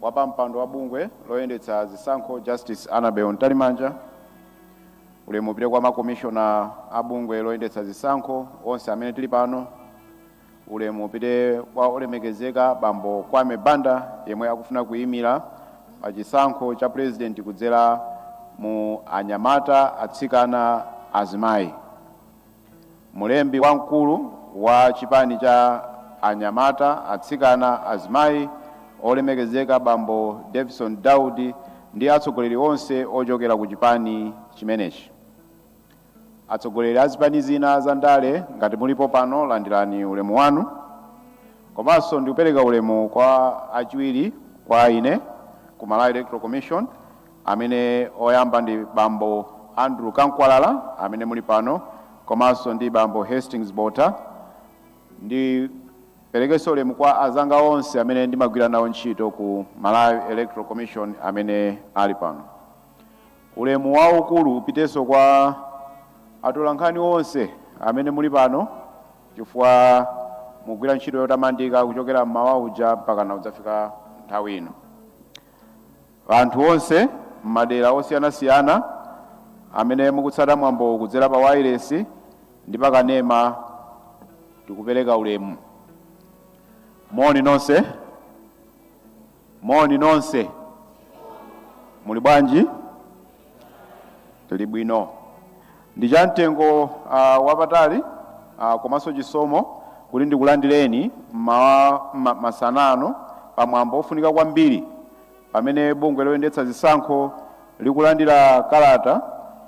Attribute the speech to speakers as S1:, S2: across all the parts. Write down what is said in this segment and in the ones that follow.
S1: Wapampando wa bungwe loyendetsa zisankho Justice Annabel Mtalimanja, ulemu upite kwa makomishona a bungwe loyendetsa zisankho onse amene tili pano, ulemu upite kwa olemekezeka bambo Kwame Bandawe yemwe akufuna kuyimira pa chisankho cha pulezidenti kudzera mu anyamata, atsikana, azimayi. Mlembi wamkulu wa chipani cha anyamata, atsikana, azimayi olemekezeka bambo Davison Daudi ndi atsogoleri onse ochokera ku chipani chimenechi. Atsogoleri azipani zina za ndale ngati mulipo pano landirani ulemu wanu. Komanso ndikupereka ulemu kwa achiwiri kwa ine ku Malawi Electoral Commission. amene oyamba ndi bambo Andrew Kamkwalala amene muli pano komanso ndi bambo Hastings Bota ndiperekenso ulemu kwa azanga onse amene ndimagwira nawo ntchito ku Malawi Electoral Commission amene ali pano. Ulemu waukulu upitenso kwa atolankhani onse amene muli pano chifukwa mugwira ntchito yotamandika kuchokera mmawa uja mpakana kudzafika nthawi ino. Anthu onse m'madera osiyanasiyana amene mukutsata mwambo kudzera pa wailesi ndi pa kanema tikupereka ulemu. Moni nonse. Moni nonse. Muli bwanji? Tili bwino, ndi cha mtengo wapatali komanso chisomo kuti ndikulandireni mmawa, masana ano pa mwambo wofunika kwambiri pamene bungwe loyendetsa zisankho likulandira kalata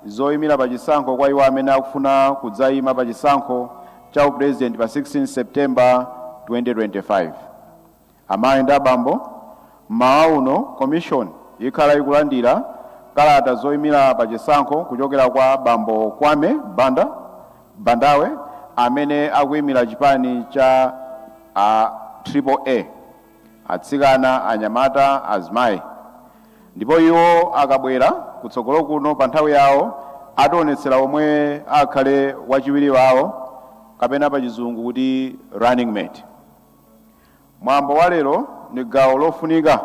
S1: zoyimira pa chisankho kwa iwo amene akufuna kudzayima pa chisankho cha upulezidenti pa 16 September 2025. Amayi ndi abambo, m'mawa uno Commission ikhala ikulandira kalata zoimira pa chisankho kuchokera kwa bambo Kwame Bandawe, amene akuimira chipani cha a triple A, atsikana, anyamata, azimayi, ndipo iwo akabwera kutsogolo kuno pa nthawi yawo ationetsera omwe akhale wachiwiri wawo kapena pa chizungu kuti running mate. Mwambo wa lero ndi gawo lofunika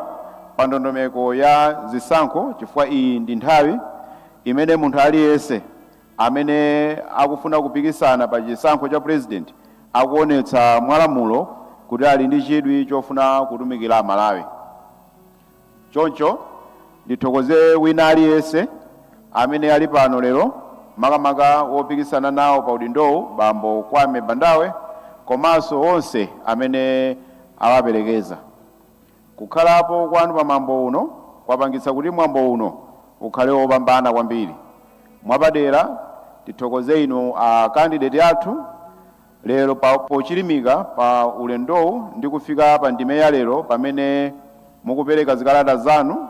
S1: pa ndondomeko ya zisankho chifukwa iyi ndi nthawi imene munthu aliyense amene akufuna kupikisana pa chisankho cha president akuonetsa mwalamulo kuti ali ndi chidwi chofuna kutumikira Malawi. Choncho ndithokoze wina aliyense amene ali pano lero makamaka wopikisana nawo pa udindowu bambo Kwame Bandawe komanso onse amene awaperekeza. Kukhalapo kwanu pa mwambo uno kwapangitsa kuti mwambo uno ukhale wopambana kwambiri. Mwapadera ndithokoze inu a kandideti athu. Lero pochilimika pa ulendowu ndi kufika pa ndime ya lero pamene mukupereka zikalata zanu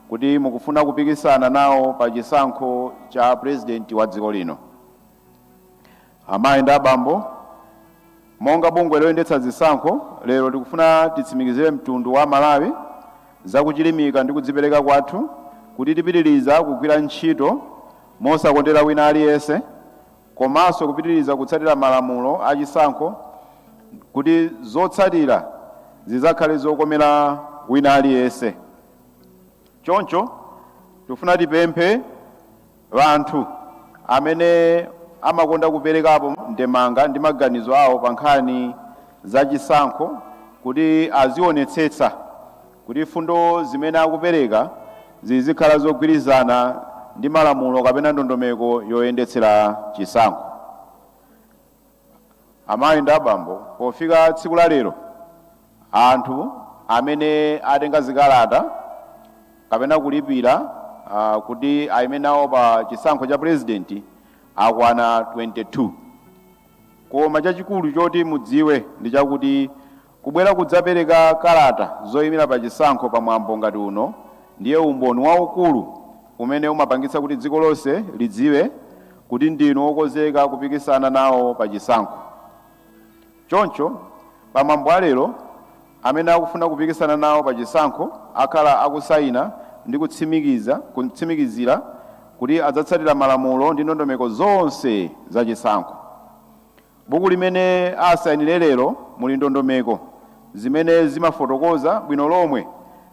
S1: kuti mukufuna kupikisana nawo pa chisankho cha pulezidenti wa dziko lino. Amayi ndi abambo, monga bungwe loyendetsa zisankho, lero tikufuna titsimikizire mtundu wa Malawi za kuchilimika ndi kudzipereka kwathu kuti tipitiliza kugwira ntchito mosakondera wina aliyense, komanso kupitiriza kutsatira malamulo a chisankho kuti zotsatira zidzakhale zokomera wina aliyense. Choncho tikufuna tipemphe anthu amene amakonda kuperekapo ndemanga ndi maganizo awo pa nkhani za chisankho kuti azionetsetsa Kuti mfundo zimene akupereka zizikhala zogwirizana ndi malamulo kapena ndondomeko yoyendetsera chisankho, amayi ndi abambo, pofika tsiku la lero anthu amene atenga zikalata kapena kulipira kuti ayime nawo pa chisankho cha pulezidenti akwana 22. Koma chachikulu choti mudziwe ndi chakuti Kubwera kudzapereka kalata zoyimira pa chisankho pa mwambo ngati uno ndiye umboni waukulu umene umapangitsa kuti dziko lonse lidziwe kuti ndinu okonzeka kupikisana nawo pa chisankho. Choncho, pa mwambo wa lero, amene akufuna kupikisana nawo pa chisankho akhala akusayina ndi kutsimikizira kuti adzatsatira malamulo ndi ndondomeko zonse za chisankho. Buku limene asainire lero muli ndondomeko zimene zimafotokoza bwino lomwe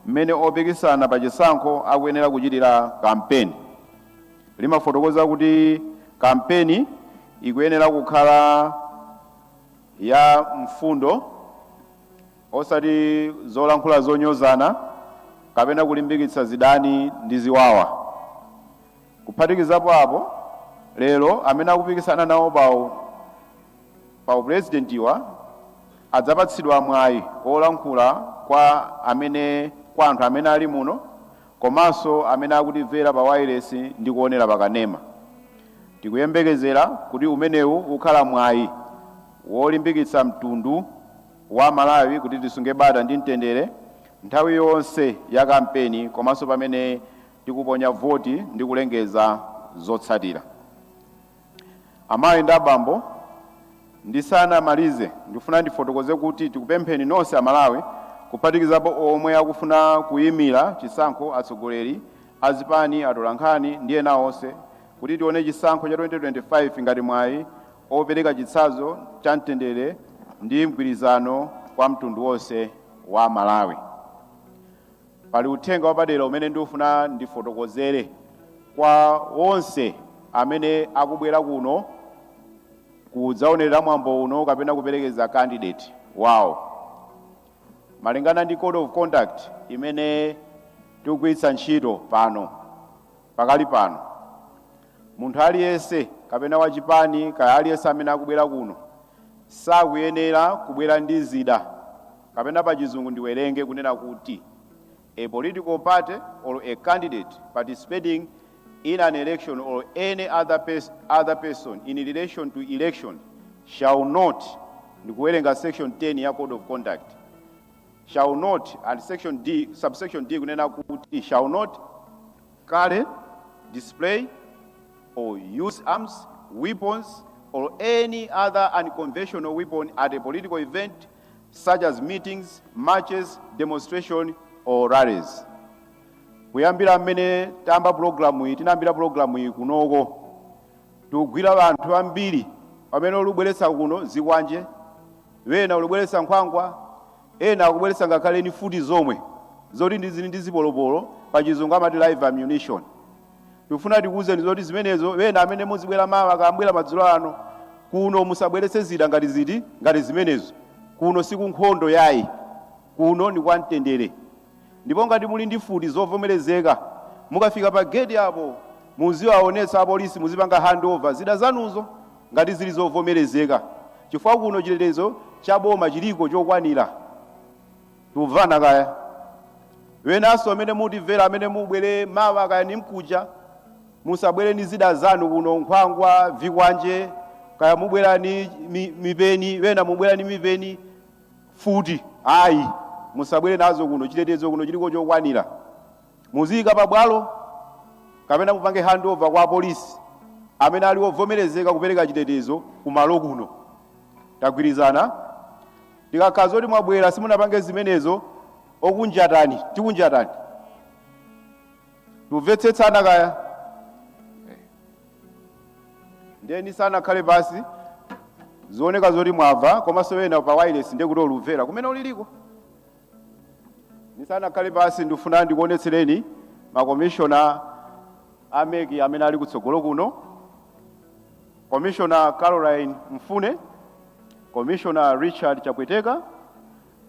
S1: mmene opikisana pa chisankho akuyenera kuchitira kampeni. Limafotokoza kuti kampeni ikuyenera kukhala ya mfundo osati zolankhula zonyozana kapena kulimbikitsa zidani ndi ziwawa. Kuphatikizapo apo, lero amene akupikisana nawo pa upulezidentiwa adzapatsidwa mwayi wolankhula kwa amene kwa anthu amene ali muno komanso amene akutimvera pa wailesi ndi kuonera pa kanema. Tikuyembekezera kuti umenewu ukhala mwayi wolimbikitsa mtundu wa Malawi kuti tisunge bata ndi mtendere nthawi yonse ya kampeni komanso pamene Tikuponya voti ndi kulengeza zotsatira. Amayi ndi abambo, ndisanamalize ndikufuna ndifotokoze kuti tikupempheni nonse aMalawi kuphatikizapo omwe akufuna kuyimira chisankho, atsogoleri azipani, atolankhani ndi ena onse kuti tione chisankho cha 2025 ngati mwayi opereka chitsanzo cha mtendere ndi mgwirizano kwa mtundu wonse wa Malawi. Pali uthenga wapadera umene ndifuna ndifotokozere kwa onse amene akubwera kuno kudzaonerera mwambo uno kapena kuperekeza candidate wawo. Malingana ndi code of conduct imene tikugwiritsa ntchito pano, pakali pano, munthu aliyense kapena wachipani kaya aliyense amene akubwera kuno sakuyenera kubwera ndi zida Kapena pa chizungu ndiwerenge kunena kuti a political party or a candidate participating in an election or any other pers other person in relation to election shall not ndikuwerenga section 10 ya code of conduct shall not and section D subsection D kunena kuti shall not carry display or use arms weapons or any other unconventional weapon at a political event such as meetings, marches, demonstration or rallies. Kuyambira mmene tayamba pulogalamuyi tinayambira pulogalamuyi kunoko tikugwira ŵanthu ŵambiri pamene ulibweretsa kuno zikwanje ŵena ulibweretsa nkhwangwa ena akubweretsa ngakhale ni mfuti zomwe zoti ndi zili ndi zipolopolo pa chizungu amati live ammunition Tikufuna tikuuzeni zoti zimenezo ena amene muzibwera mawa kambwera madzulo ano kuno musabweretse zida ngati ziti ngati zimenezo kuno sikunkhondo yayi kuno ndi kwamtendere ndipo ngati muli ndi mfuti zovomerezeka mukafika pa geti apo muziwaonetsa apolisi muzipanga handover zida zanuzo ngati zili zovomerezeka chifukwa kuno chitetezo cha boma chiliko chokwanira Tumvana kaya. Ŵenanso amene mutimvera amene mubwele mawa kaya nimkuja, musabwele ni zida zanu kuno, nkhwangwa, vikwanje, kaya mubwela ni mi, mipeni, ŵena mubwela ni mipeni, mfuti. Ayi, musabwele nazo kuno, chitetezo kuno chiliko chokwanira. Muziyika pa bwalo kapena mupange handover kwa apolisi amene ali ovomerezeka kupereka chitetezo kumalo kuno. Tagwirizana? Tikakhala zoti mwabwera simunapange zimenezo okunjatani tikunjatani. Timvetsetsana kaya nde nisanakhale pasi zioneka zoti mwava komanso ena pa wireless ndikuti omvera kumene uliliko nisanakhale pasi ndifuna ndikuonetsereni makomishona a MEC amene ali kutsogolo kuno Commissioner Caroline Mfune, Commissioner Richard Chapweteka,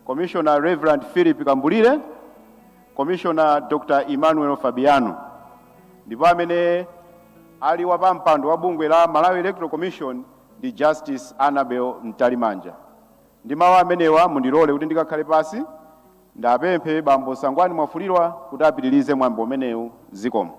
S1: Commissioner Reverend Philip Kambulire, Commissioner Dr. Emmanuel Fabiano ndipo amene ali wapampando wa bungwe la Malawi Electoral Commission ndi Justice Annabel Mtalimanja. Ndi mawu amenewa mundilole kuti ndikakhale pasi ndiwapemphe bambo Sangwani Mwafulirwa kuti apitirize mwambo umenewu zikomo.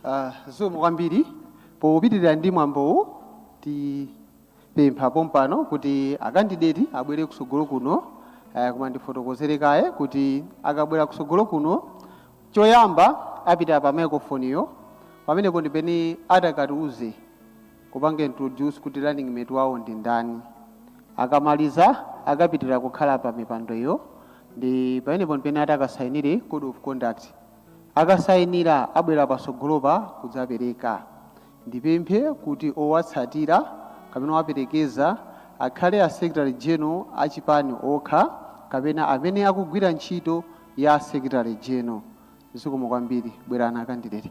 S2: Ah, zikomo kwambiri popitirira ndi mwambowu tipempha pompano kuti akandideti abwere kusogolo kuno eh, koma ndifotokozere kaye kuti akabwera kusogolo kuno choyamba apita pa microphone yo pamenepo ndi pene atakatiuze kupanga introduce kuti running mate wawo ndi ndani. Akamaliza akapita kukhala pa mipando iyo ndi pamenepo ndi pene atakasainire code of conduct. Akasainira abwera pasogolopa kudzapereka. Ndipemphe kuti owatsatira kapena owaperekeza akhale a Secretary General a chipani okha kapena amene akugwira ntchito ya Secretary General. Zikomo kwambiri. Bwerani akandideti.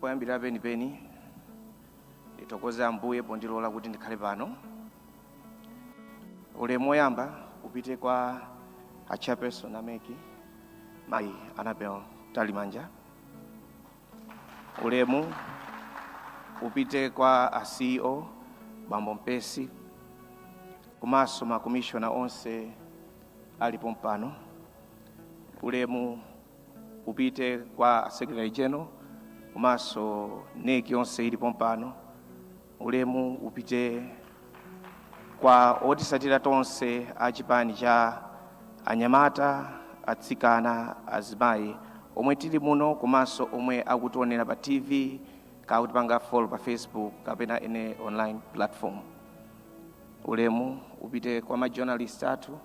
S3: poyambirira penipeni ndithokoze ambuye pondilola kuti ndikhale pano ulemu woyamba upite kwa a chairperson a MEC mayi Annabel Mtalimanja Ulemu upite kwa a CEO Bambo Mpesi komanso makomishona onse ali pompano. Ulemu upite kwa Secretary General komanso NEC yonse ili pompano. Ulemu upite kwa otisatira tonse a chipani cha anyamata, atsikana, azimayi omwe tili muno komanso omwe akutionera pa TV ka kutipanga follow pa Facebook kapena any online platform. Ulemu upite kwa ma journalist athu,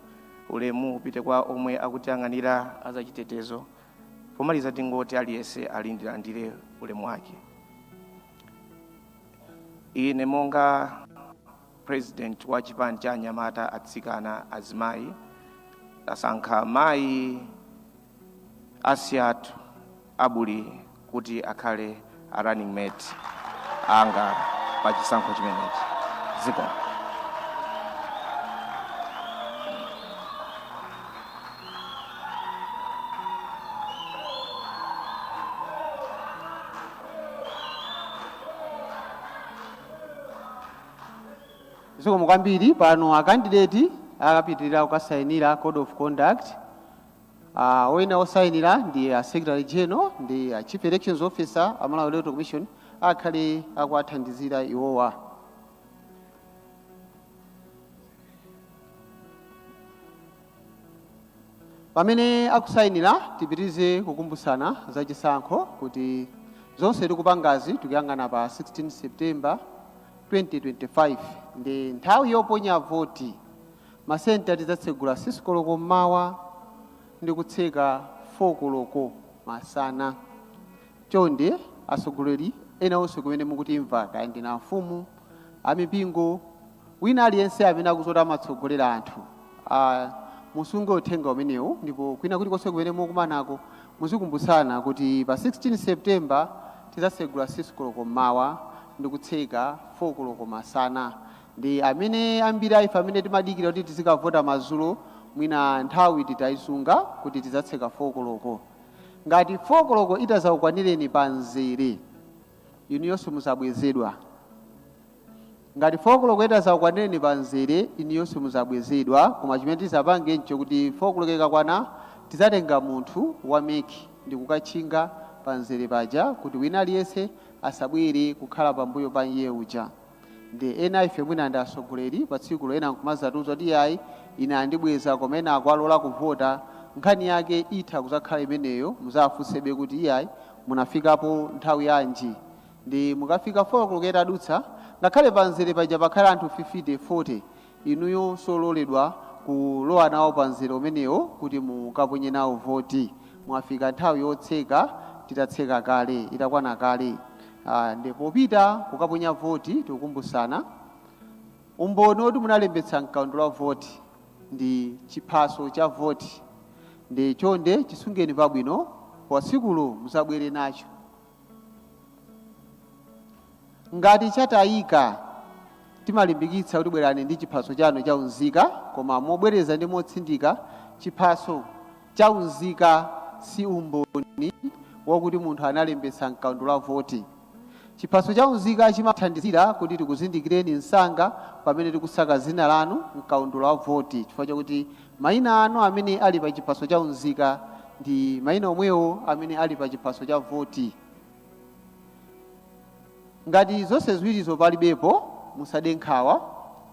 S3: ulemu upite kwa omwe akutiyang'anira azachitetezo. Pomaliza tingoti aliyense alandire ulemu wake. Ine monga president wa chipani cha anyamata, atsikana, azimayi tasankha mayi Asiatu Abuli kuti akhale a running mate anga pa chisankho chimenechi. Ziko.
S2: zikomo kwambiri pano akandideti akapitirira kukasayinira code of conduct uh, oyenera kusayinira ndi a secretary general ndi a chief elections officer a malawi electoral commission akhale akuwathandizira iwowa Pamene akusayinila tipitilize kukumbusana za chisankho kuti zonse tikupangazi tikuyang'ana pa 16 September 2025 ndi nthawi yoponya voti ma center tidzatsegula 6 koloko mmawa ndi kutseka 4 koloko masana. Chonde atsogoleri ena onse kumene mukutimva kaya ndinu amfumu, amipingo, Wina aliyense amene akuzoti amatsogolera anthu, a, musunge Uthenga umenewu, ndipo kwina kulikonse kumene mukumanako, muzikumbutsana kuti pa 16 September tidzatsegula 6 koloko mmawa ndi kutseka 4 koloko masana. Nde amene, ambiri a ife amene timadikira kuti tizikavota madzulo, mwina nthawi titaisunga kuti tidzatseka 4 koloko. Ngati 4 koloko itadzakukwanireni pa mzere, inuyo simudzabwezedwa. Ngati 4 koloko itazakukwanireni pa mzere inuyo simuzabwezedwa koma chimene tizapange nchokuti 4 koloko ikakwana tizatenga munthu wa mec ndikukatchinga pa mzere paja kuti wina aliyense asabwere kukhala pambuyo pa iye uja nde ena aife mwina ndi atsogoleri patsikulo ena nkumazatiuza kuti iyayi ine andibweza koma ena akuwalola kuvota nkhani yake itha kuzakhala imeneyo muzafunsebe kuti iyayi munafikapo nthawi yanji Nde mukafika 4 koloko itadutsa, ngakhale pa mzere paja pakhale anthu 50, 40, inuyo simololedwa kulowa nawo pa mzere umenewo kuti mukaponye nawo voti. Mwafika nthawi yotseka titatseka kale, itakwana kale. Nde popita kukaponya voti tikukumbusana, umboni woti munalembetsa mkaundula wa voti ndi chiphaso cha voti. Nde chonde chisungeni pabwino, pa tsikulo muzabwere nacho. Ngati chatayika, timalimbikitsa kuti bwerani ndi chiphaso chanu cha unzika, koma mobwereza ndi motsindika, chiphaso cha unzika si umboni wakuti munthu analembetsa m'kaundula wa voti. Chiphaso cha unzika chimathandizira kuti tikuzindikireni msanga pamene tikusaka dzina lanu m'kaundula wa voti chifukwa chakuti Maina anu amene ali pa chiphaso cha unzika ndi maina omwewo amene ali pa chiphaso cha voti. Ngati zonse ziwirizo palibepo, musade nkhawa,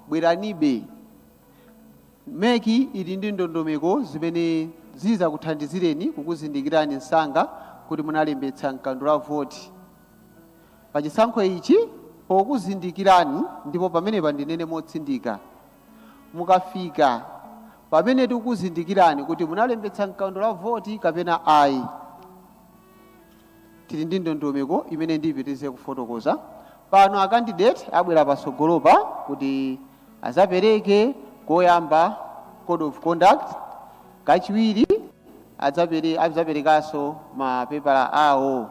S2: bweranibe. Mec ili ndi ndondomeko zimene zizakuthandizireni kukuzindikirani msanga kuti munalembetsa m'kaundula wa voti pa chisankho ichi. Pokuzindikirani ndipo pamenepa ndinene motsindika, mukafika pamene tikuzindikirani kuti munalembetsa m'kaundula wa voti kapena ayi tili ndi ndondomeko imene ndipitirize kufotokoza pano akandidate abwera patsogolopa kuti adzapereke koyamba code of conduct kachiwiri adzapere- adzaperekanso mapepala awo